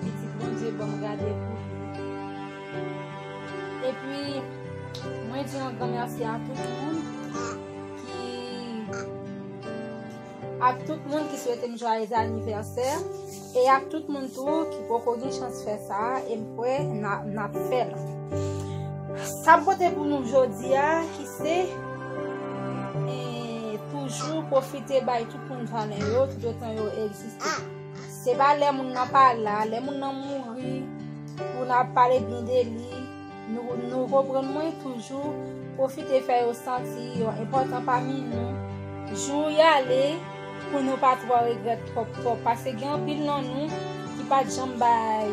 Pitit Bondye banm gade pou li. Epi mwen di yon gran merci a tout moun ki ak tout moun ki swete m joyeux anniversaire e ak tout moun tou ki poko gen chans fè sa e m kwè nap fè l. Sa m pote pou nou jodi a ki se toujou profite bay tout moun valè yo tout otan yo egziste. Se pa lè moun nan pa la, lè moun nan mouri pou nap pale byen de li, nou konprann mwen toujou pwofite fè yo santi yo enpòtan pami nou, jou y ale pou nou pa twò regrèt twòp twòp, pase gen anpil nan nou ki pat janm bay.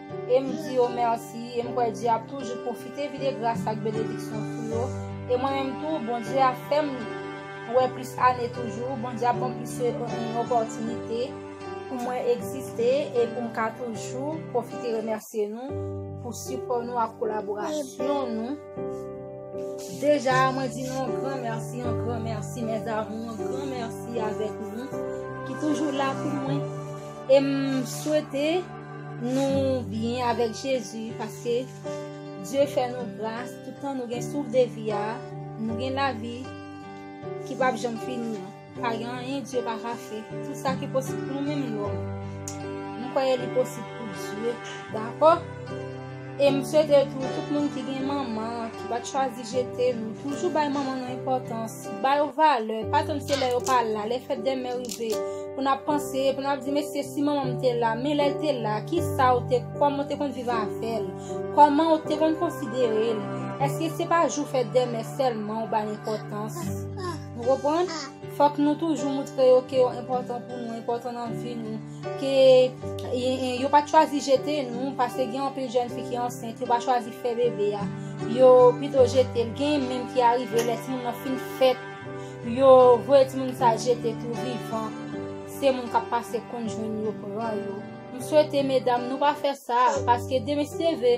E m di yo mèsi, e m kwè Dye ap toujou pwofite vide gras ak benediksyon sou yo, e mwen menm tou, Bondye ap fè m wè plis ane toujou, Bondye ap ban m plis opòtinite pou mwen egziste, e pou m ka toujou pwofite remèsye nou pou sipò nou ak kolaborasyon nou. Deja, mwen di nou yon gran mèsi, yon gran mèsi mèzamou, yon gran mèsi avèk nou ki toujou la pou mwen, e m swete. Nou byen avèk Jezi paske Dye fè nou gras toutan nou gen souf de vi a, nou gen lavi ki pap janm fini an. Pa gen anyen Dye pa ka fè. Tout sa ki posib pou nou menm lòm, nou kwè li posib pou Dye. Dakò? E m swete tou tout moun ki gen manman, ki pa t chwazi jete l, toujou bay manman nou enpòtans, ba yo valè, pa tann se lè yo pa la, lè fèt dè mè rive, pou n ap panse, pou n ap di mesye si manman m te la, men lè l te la, ki sa ou te, kòman ou te konn viv avè l, kòman ou te konn konsidere l, èske se pa jou fèt dè mè sèlman ou bay enpòtans. Nou konprann? Fòk nou toujou moutre yo ke yo enpòtan pou nou, enpòtan nan vi nou. Ke yo pa chwazi jete nou, paske gen anpil jèn fi ki ansent, yo pa chwazi fè bebe a, yo pito jete l. Gen menm ki arive lè timoun nan fin fèt, yo voye timoun sa jete tou vivan. Se moun k ap pase konn jwenn yo pran yo. M swete medam nou pa fè sa, paske demen seve.